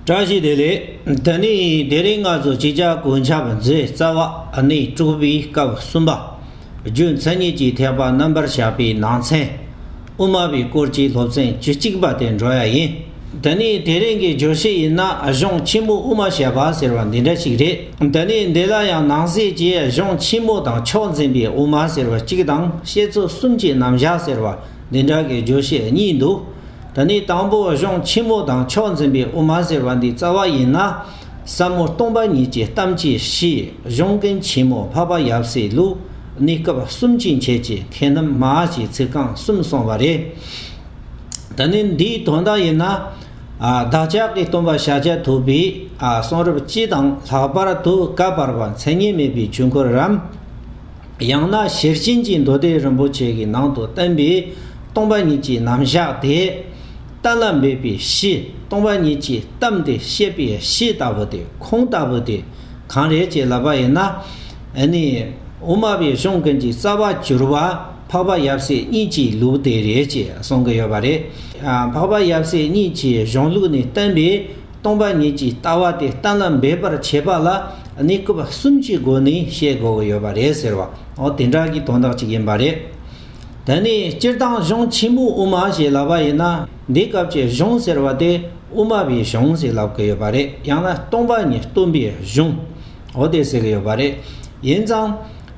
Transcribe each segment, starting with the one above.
བཀྲ་ཤིས་བདེ་ལེགས། ད་ནི་དེ་རིང་སྔ་ཚོད་ཅིག་ཅར་གོས་འཆའ་བ་མཛད་རྩ་བ་ནས་དཀྲུགས་པའི་སྐབས་གསུམ་པ། རྒྱུ་མཚན་གཉིས་ཀྱིས་ཐེག་པ་རྣམ་པར་བཞག་པའི་ནང་ཚན། དབུ་མ་པའི་སྐོར་གྱི་སློབ་ཚན་བཅུ་གཅིག་པ་དེ་འགྲོ་ཡ་ཡིན། ད་ནི་དེ་རིང་གི་བརྗོད་གཞི་ཡིན་ན་གཞུང་ཆེན་མོ་དབུ་མ་བྱས་པ་ཟེར་བ་འདི་འདྲ་ཞིག་རེད། ད་ནི་འདི་ལ་ཡང་ནང་གསེས་ཀྱི་གཞུང་ཆེན་མོ་དང་ཕྱོགས་འཛིན་པའི་དབུ་མ་ཟེར་བ་གཅིག་དང་བཤད་ཚུལ་གསུམ་གྱི་རྣམ་བཞག་ཟེར་བ་འདི་འདྲ་གི་བརྗོད་གཞི་གཉིས་འདུག། ད་ནི་དང་པོ་གཞུང་ཆེན་མོ་དང་ཕྱོགས་འཛིན་པའི་དབུ་མ་ཟེར་བ་འདི་རྩ་བ་ཡིན་ན། ཟབ་མོ་སྟོང་པ་ཉིད་ཀྱི་གཏམ་གྱི་གཞི་གཞུང་གི་ཆེན་མོ་འཕགས་པ་ཡབ་སྲས་ལུགས་ནི་སྐབས་གསུམ་གྱི་མཆེད་ཀྱི་མཁས་རྣམས་མ་ཀྱི་ཚིག་རྐང་གསུམ་སོང་བ་རེད། ད་ནི་འདིའི་དོན་དག་ཡིན་ན། བདག་ཅག་གི་སྟོན་པ་ཤཱཀྱ་ཐུབ་པའི་གསུང་རབ་སྤྱི་དང་ལྷག་པར་དུ་བཀའ་བར་པ་མཚན་ཉིད་མེད་པའི་ཆོས་འཁོར་རམ། ཡང་ན་ཞེར་བྱིན་གྱིས་མདོ་སྡེ་རིན་པོ་ཆེ་གི་ནང་དུ་བསྟན་པའི་སྟོང་པ་ཉིད་ཀྱི་རྣམ་གཞག་དེ། གཏན་ལ་འབེབས་པའི་གཞི་སྟོང་པ་ཉིད་ཀྱིས་གཏམས་ཏེ་བཤད་པའི་གཞི་ལྟ་བུ་དེ་ཁུངས་ལྟ་བུ་དེ་གང་རེད་ཅེས་ལབ་པ་ཡིན་ན། འི་ནི། དབུ་མ་པའི་གཞུང་ཀུན་གྱི་རྩ་བ་གྱུར་པ་འཕགས་པ་ཡབ་སྲས་གཉིས་ཀྱི་ལུགས་དེ་རེད་ཅེས་གསུང་གི་ཡོད་པ་རེད། འཕགས་པ་ཡབ་སྲས་གཉིས་ཀྱི་གཞུང་ལུགས་ནི་བསྟན་པའི། སྟོང་པ་ཉིད་ཀྱི་ལྟ་བ་དེ་ལྟ་ན་འབད་པར་བྱེད་པ་ལ་ནི་སྐུ་པ་གསུམ་གྱི་སྒོ་ནས་བཤད་དགོས་ཀྱི་ཡོད་པ་རེད་ཟེར་བ་འོ་དེ་འདྲ་གི་དོན་དག་ཅིག་ཡིན་པ་རེད། དེ་ནས་སྤྱིར་བཏང་གཞུང་ཆེན་པོའི་དབུ་མ་ཞེས་ལབ་པ་ཡིན་ན་འདི་སྐབས་ཀྱི་གཞུང་ཟེར་བ་དེ་དབུ་མ་པའི་གཞུང་ཞེས་ལབ་ཀྱི་ཡོད་པ་རེད་ཡང་ན་སྟོང་པ་ཉིད་སྟོན་པའི་གཞུང་འོ་དེ་ཟེར་གྱི་ཡོད་པ་རེད། ཡིན་ཙང།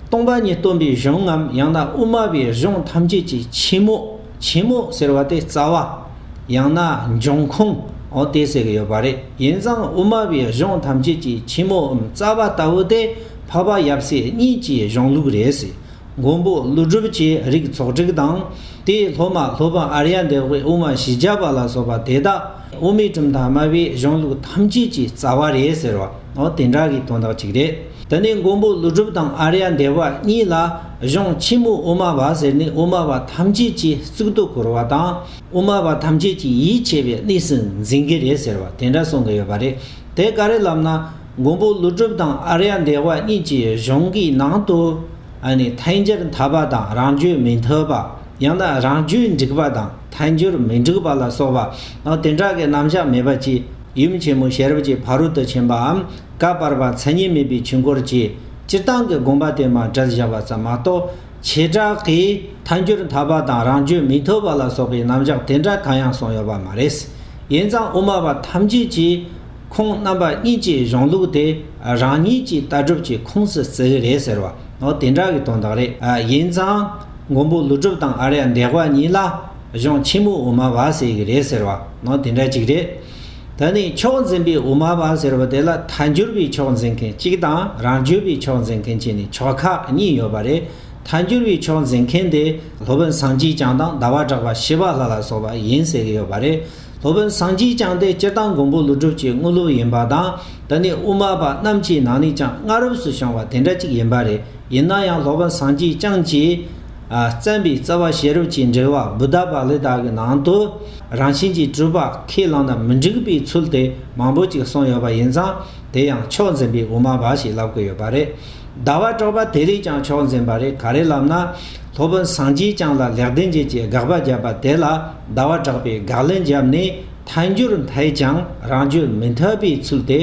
སྟོང་པ་ཉིད་སྟོན་པའི་གཞུང་ངམ་ཡང་ན་དབུ་མ་པའི་གཞུང་ཐམས་ཅད་ཀྱི་ཆེན་མོ། ཆེན་མོ་ཟེར་བ་དེ་རྩ་བ། ཡང་ན་འབྱུང་ཁུངས་འོག་དེ་ཟེར་གྱི་ཡོད་པ་རེད། ཡིན་ཙང་དབུ་མ་པའི་གཞུང་ཐམས་ཅད་ཀྱི་ཆེན་མོའམ་རྩ་བ་ལྟ་བུ་དེ་འཕགས་པ་ཡབ་སྲས་གཉིས་ཀྱི་གཞུང་ལུགས་རེད། མགོན་པོ་ཀླུ་སྒྲུབ་ཀྱི་རིགས་ཚོགས་བསྒྲིགས་དང། དེའི་སློབ་མ་སློབ་དཔོན་ཨ་རྱ་འདས་དབུས་དབུ་མ་བཞི་བརྒྱ་པ་ལ་སོགས་པ་དེ་དག་དབུ་མའི་གྲུབ་མཐའ་སྨྲ་བའི་གཞུང་ལུགས་ཐམས་ཅད་ཀྱི་རྩ་བ་རེད་ཟེར་བ་འོག་དེ་འདྲ་གི་དོན་དག་ཅིག་རེད། དེ་ནས་མགོན་པོ་ཀླུ་སྒྲུབ་དང་ཨ་རྱ་འདས་དབུ་གཉིས་ལ། གཞུང་ཆེན་མོ་དབུ་མ་བ་ཟེར་ནི་དབུ་མ་བ་ཐམས་ཅད་ཀྱིས་གཙུག་ཏུ་བཀུར་བ་དང་དབུ་མ་བ་ཐམས་ཅད་ཀྱིས་ཡིད་ཆེས་པའི་གནས་སུ་འཛིན་གྱི་རེད་ཟེར་བ་དེ་འདྲ་གསུང་གི་ཡོད་པ་རེད་དེ་ག་རེ་ལབ་ན་མགོན་པོ་ཀླུ་སྒྲུབ་དང་ཨ་རྱ་འདས་བ་གཉིས་ཀྱི་གཞུང་གི་ནང་དུ་ཐལ་འགྱུར་མཐའ་པ་དང་རང་རྒྱུད་མི་མཐུན་པ་ཡང་ན་རང་རྒྱུད་འགྲིག་པ་དང་ཐལ་འགྱུར་མི་འགྲིག་པ་ལ་སོགས་པ་དེ་འདྲ་གི་རྣམ་གཞག་མེད་པ་གཅིག་ཡུམ་ཆེན་མོ་ཤེས་རབ་ཀྱི་ཕ་རོལ་ཏུ་ཕྱིན་པའམ་བཀའ་བར་པ་མཚན་ཉིད་མེད་པའི་ཆོས་འཁོར་གྱི། སྤྱིར་བཏང་གི་དགོངས་པ་དེ་མ་བསྒྲལ་བཞག་པ་ཙམ་མ་གཏོགས་བྱེ་བྲག་གིས་མཐའ་འགྱུར་མཐའ་བ་དང་རང་བརྗོད་མི་ཐོབ་པ་ལ་སོགས་པའི་རྣམ་གཞག་དེ་འདྲ་གང་ཡང་གསུངས་ཡོད་པ་མ་རེད། ཡིན་ཙང་དབུ་མ་པ་ཐམས་ཅད་ཀྱིས་ཁོང་རྣམ་པ་གཉིས་ཀྱི་གཞུང་ལུགས་དེ་རང་ཉིད་ཀྱི་ལྟ་གྲུབ་ཀྱི་ཁུངས་སུ་བརྩི་གི་རེད་ཟེར་བ་འོ་དེ་འདྲ་གི་དོན་དག་རེད། ཡིན་ཙང་མགོན་པོ་ཀླུ་སྒྲུབ་དང་ཨ་རྱ་འདས་པ་གཉིས་ལ་གཞུང་ཆེན་མོ་དབུ་མ་བ་ཟེར་གི་རེད་ཟེར་བ་འོ་དེ་འདྲ་ཅིག་རེད། ད་ནི་ཕྱོགས་འཛིན་པའི་དབུ་མ་པ་ཟེར་བ་དེ་ལ་ཐ་འགྱུར་བའི་ཕྱོགས་འཛིན་མཁན་གཅིག་དང་རང་བརྗོད་པའི་ཕྱོགས་འཛིན་མཁན་གཅིག་ནི་ཕྱོགས་ཁག་གཉིས་ཡོད་པ་རེད། ཐ་འགྱུར་བའི་ཕྱོགས་འཛིན་མཁན་དེ་སློབ་དཔོན་སངས་སྐྱིད་ཅང་དང་ཟླ་བ་གྲགས་པ་ཤེས་པ་ལྷ་ལ་སོགས་པ་ཡིན་ཟེར་གྱི་ཡོད་པ་རེད། སློབ་དཔོན་སངས་སྐྱིད་ཅང་དེ་སྤྱིར་བཏང་མགོན་པོ་ཀླུ་སྒྲུབ་ཀྱི་དངོས་སློབ་ཡིན་པ་དང་ད་ནི་དབུ་མ་པ་རྣམས་ཀྱི་ནང་ནས་ཀྱང་སྔ་རབས་སུ་བྱུང་བ་དེ་འདྲ་གཅིག་ཡིན་པ་རེད། ཡིན་ན་ཡང་སློབ་དཔོན་སངས་སྐྱིད་ཅང་གྱིས། བརྩམས་པའི་རྩ་བ་ཤེས་རབ་ཀྱི་འགྲེལ་བ་བུདྡྷ་བཱ་ལི་དག་གི་ནང་དུ་རང་བཞིན་གྱིས་གྲུབ་པ་ཁས་བླངས་ན་མི་འགྲིག་པའི་ཚུལ་དེ་མང་པོ་ཅིག་གསུངས་ཡོད་པ་ཡིན་ཙང་དེ་ཡང་ཕྱོགས་འཛིན་པའི་དབུ་མ་འབའ་ཞིག་ལབ་དགོས་ཡོད་པ་རེད། ཟླ་བ་གྲོགས་པ་དེ་རིགས་ཀྱང་ཕྱོགས་འཛིན་པ་རེད་ག་རེ་ལབ་ན། སློབ་དཔོན་སངས་རྒྱས་བསྐྱངས་ལ་ལེགས་ལྡན་འབྱེད་ཀྱི་དགག་པ་བརྒྱབ་པ་དེ་ལ་ཟླ་བ་གྲགས་པས་དགག་ལན་བརྒྱབ་ནས་ཐལ་འགྱུར་འཐད་ཀྱང་རང་རྒྱུད་མི་འཐད་པའི་ཚུལ་དེ།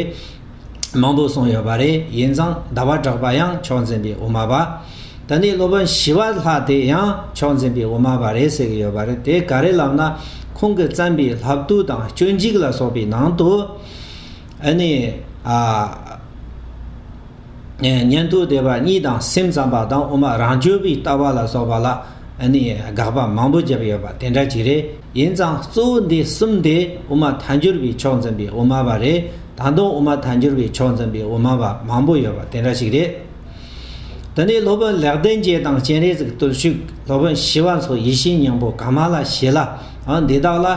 མང་པོ་གསུངས་ཡོད་པ་རེད་ཡིན་ཙང་ཟླ་བ་གྲགས་པ་ཡང་ཕྱོགས་འཛིན་པའི་དབུ་མ་པ། ད་ནི་སློབ་དཔོན་ཞི་བ་ལྷ་དེ་ཡང་ཕྱོགས་འཛིན་པའི་དབུ་མ་པ་རེད་ཟེར་གྱི་ཡོད་པ་རེད་དེ་ག་རེ་ལབ་ན་ཁོང་གིས་བརྩམས་པའི་ལྷ་བཏུལ་དང་སྤྱོད་འཇིག་ལ་སོགས་པའི་ནང་དུ་ཨ་ནི་ཨ། ཉན་ཐོས་སྡེ་པ་གཉིས་དང་སེམས་ཙམ་པ་དང་དབུ་མ་རང་སྤྱོད་པའི་ལྟ་བ་ལ་སོགས་པ་ལ་ནས་དགག་པ་མང་པོ་བརྒྱབ་ཡོད་པ་དེ་འདྲ་ཅིག་རེད། ཡིན་ཙང་གཙོ་བོ་འདི་གསུམ་དེ་དབུ་མ་མཐའ་འགྱུར་བའི་ཕྱོགས་འཛིན་པའི་དབུ་མ་བ་རེད་ད་དུང་དབུ་མ་མཐའ་འགྱུར་བའི་ཕྱོགས་འཛིན་པའི་དབུ་མ་བ་མང་པོ་ཡོད་པ་དེ་འདྲ་ཞིག་རེད། དེ་ནས་སློབ་དཔོན་ལེགས་ལྡན་རྒྱལ་དང་སྤྱན་རས་གཟིགས་བརྟུལ་ཞུགས་སློབ་དཔོན་ཞི་བ་འཚོ་ཡེ་ཤེས་སྙིང་པོ་གང་མང་ལ་བྱས་ལ་འདི་དག་ལ་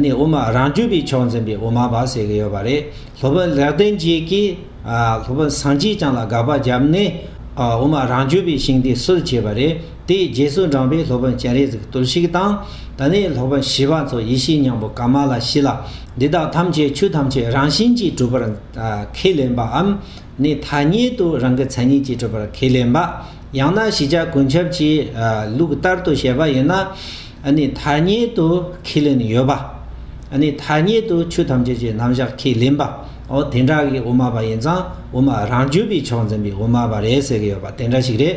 དབུ་མ་རང་རྒྱུད་པའི་ཕྱོགས་འཛིན་པའི་དབུ་མ་བ་ཟེར་གྱི་ཡོད་པ་རེད། སློབ་དཔོན་ལེགས་ལྡན་རྒྱལ་གྱིས་སློབ་དཔོན་སངས་རྒྱས་བྱང་ལ་དགག་པ་བརྒྱབ་ནས་དབུ་མ་རང་རྒྱུད་པའི་ཤིང་རྟའི་སྲོལ་བྱས་པ་རེད། དེའི་རྗེས་སུ་འབྲངས་པའི་སློབ་དཔོན་སྤྱན་རས་གཟིགས་བརྟུལ་ཞུགས་དང། དེ་ནས་སློབ་དཔོན་བྱིས་པ་ཚོ་ཡེ་ཤེས་སྙིང་པོ་ཀ་མ་ལ་བཞི་ལ། འདི་དག་ཐམས་ཅད་ཆོས་ཐམས་ཅད་རང་བཞིན་གྱིས་གྲུབ་པར་ཁས་ལེན་པའམ། ནི་ཐ་སྙད་དུ་རང་གི་མཚན་ཉིད་ཀྱིས་གྲུབ་པར་ཁས་ལེན་པ། ཡང་ན་ཞི་ཆགས་ཀུན་ཁྱབ་ཀྱི་ལུགས་ལྟར་དུ་བཤད་པ་ཡིན་ན། ནི་ཐ་སྙད་དུ་ཁས་ལེན་ཡོད་པ། ནི་ཐ་སྙད་དུ་ཆོས་ཐམས་ཅད་ཀྱི་རྣམ་བཞག་ཁས་ལེན་པ། འོ་དེ་འདྲ་གི་དབུ་མ་པ་ཡིན་ཙང་དབུ་མ་རང་རྒྱུད་པའི་ཕྱོགས་འཛིན་པའི་དབུ་མ་པ་རེད་ཟེར་གྱི་ཡོད་པ་དེ་འདྲ་ཞིག་རེད།